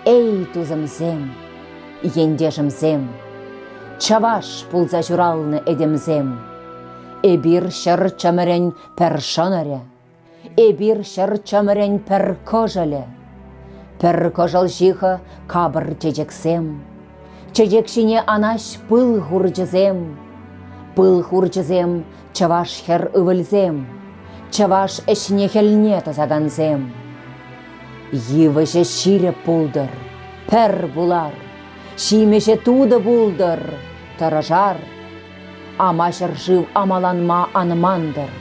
Эй, тусӑмсем, ентешӗмсем, чӑваш пулса ҫуралнӑ этемсем! Эпир ҫӗр чӑмӑрӗн пӗр шӑнӑрӗ, эпир ҫӗр чӑмӑрӗн пӗр кӑшӑлӗ. Пӗр кӑшӑл ҫыхӑ капӑр чечексем, чечек ҫине анаҫ пыл хурчӗсем. Пыл хурчӗсем Чӑваш хӗр ывӑлсем, чӑваш ӗҫне-хӗлне тӑсакансем. Йывӑҫӗ ҫирӗп пултӑр, пӗр пулар, ҫимӗҫӗ тутӑ пултӑр, тӑрӑшар. Ама ҫӗршыв амаланма ан мантӑр,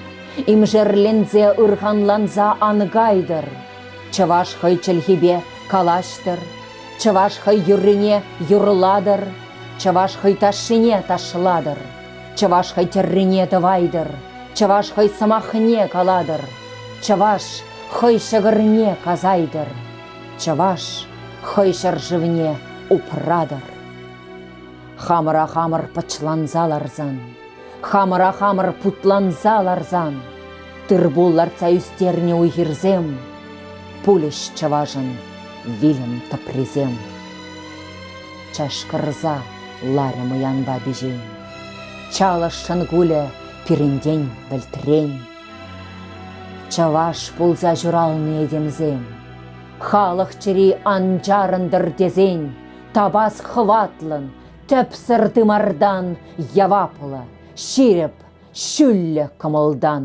имшерленсе ырханланса ан кайтӑр. Чӑваш хӑй чӗлхипе калаҫтӑр, чӑваш хӑй юррине юрлатӑр, чӑваш хӑй ташшине ташлатӑр. Чӑваш хӑй тӗррине тӑвайтӑр, чӑваш хӑй сӑмахне калатӑр, чӑваш хӑй ҫӑкӑрне касайтӑр, чӑваш хӑй ҫӗршывне упратӑр. Хамӑра хамӑр пӑчланса ларсан, хамӑра хамӑр путланса ларсан, тырпул лартса ӳстернӗ уй-хирсем, пулӗҫ чӑвашӑн вилӗм тӑприсем. чашкӑрса ларӗ мӑянпа пиҫен. Чалӑшшӑн кулӗ пирӗнтен вӗлтрен. Чӑваш пулса ҫуралнӑ этемсем, халӑх чӗри ан чарӑнтӑр тесен, тапас хӑватлӑн, тӗпсӗр тымартан яваплӑ, ҫирӗп, ҫӳллӗ кӑмӑлтан.